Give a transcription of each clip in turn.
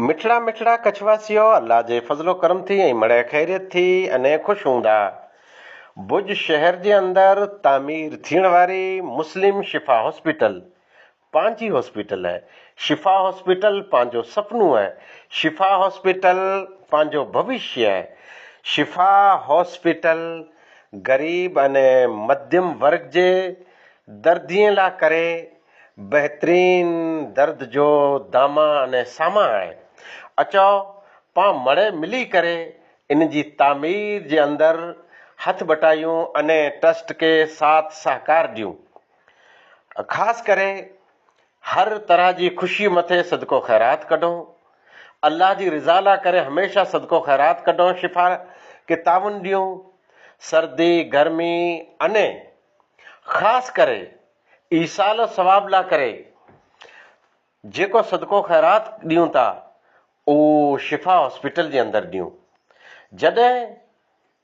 مٺڙا مٺڙا ڪڇ واسيو الله جي فضل و ڪرم ٿي ۽ مڙئي خيريت ٿي انهي خوش هوندا ڀڄ شهر جي اندر تعمير ٿيڻ واري مسلم شفا هاسپيٽل پنهنجي هاسپيٽل آهي شفا هاسپيٽل پنهنجو سپنو آهي شفا هاسپيٽل پنهنجو ڀوشيه آهي شفا هاسپيٽل غريب انهي مڌيم ورگ جي دردين لا ڪري بهترين درد جو دامان ۽ سامان آهي. اچو پان مڙئي ملي ڪري ان جي تعمير جي اندر هٿ ٻٽايون ۽ ٽرسٽ کي ساٿ سهڪار ڏيون. خاص ڪري هر طرح جي خوشي مٿي صدقو خيرات ڪڍون. الله جي رضا لا ڪري هميشه صدقو خيرات ڪڍون شفا کي تعاون ڏيون. سردي، گرمي ۽ خاص ڪري ايصال الثواب لاء ڪري جيڪو صدقو خيرات ڏيون ٿا اهو شفا هاسپيٽل جي اندر ڏيون جڏهن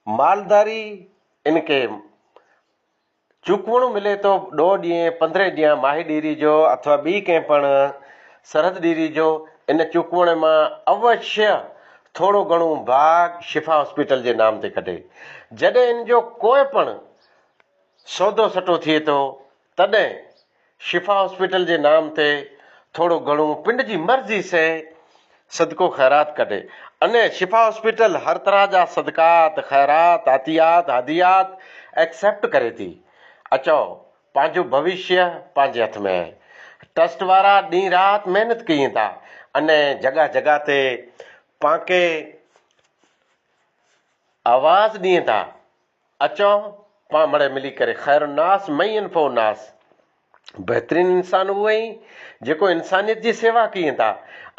مالداري ان کي چوڪوڻو ملي ٿو ڏوهه ڏينهن پندرهن ڏينهن ماهي ڏيري جو اٿوا ٻي ڪنهن پڻ سرحد ڏيري جو ان چوڪوڻي مان اوشيء ٿورو گهڻو ڀاڳ شفا هاسپيٽل جي نام تي ڪڍي جڏهن ان جو ڪوئي پڻ سودو سٺو ٿئي ٿو تڏهن شفا هاسپيٽل جي نام تي ٿورو گهڻو پنڊ جي مرضي سي صدقو خيرات ڪڍي انهي شفا هاسپيٽل هر طرح جا صدقات خيرات عطيات هديات ايڪسيپٽ ڪري ٿي اچئو پنهنجو ڀوشيه پنهنجي هٿ ۾ آهي ٽرسٽ وارا ڏينهن رات محنت ڪين ٿا انهي جڳهه جڳهه تي پانڪي آواز ڏين ٿا. اچو پاڻ مڙئي ملي ڪري خير الناس من ينفع الناس بهترين انسان اهو اهي جيڪو انسانيت جي سيوا ڪين ٿا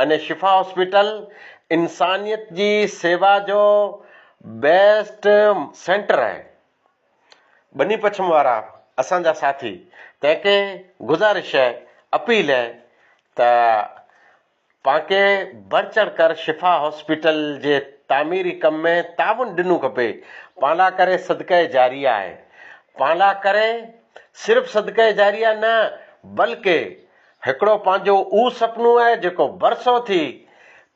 اني شفا هاسپيٽل انسانيت جي سيوا جو بيسٽ سينٽر آهي ٻني پڇم وارا اسان جا ساٿي تنهن کي گذارش آهي اپيل آهي ته پاڻکي بڙچڙ ڪر شفا هاسپيٽل جي تعميري ڪم ۾ تعاون ڏنو کپي پانڊا ڪري صدقه جاريه آهي پانڊا ڪري صرف صدقه جاريه نه بلڪ هڪڙو پنهنجو اهو سپنو آهي جيڪو برسو ٿي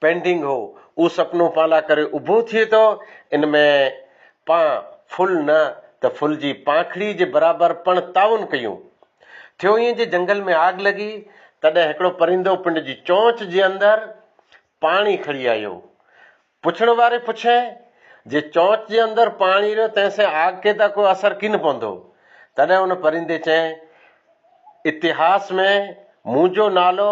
پينڊنگ هو اهو سپنو پانڊا ڪري اڀو ٿئي ٿو ان ۾ پان ڦل نه ته ڦل جي پانکڙي جي برابر پڻ تعاون ڪيون. ٿيو ائين جي جهنگل ۾ آگ لڳي تڏهن هڪڙو پرندو پنڊ جي چونچ جي اندر پاڻي کڻي آيو. پڇڻ واري پڇئي جي چونچ جي اندر پاڻي رهيو تنهن سين آگ کي ته ڪو اثر ڪين پوندو. تڏهن ان پرندي چئي اتهاس ۾ منهنجو نالو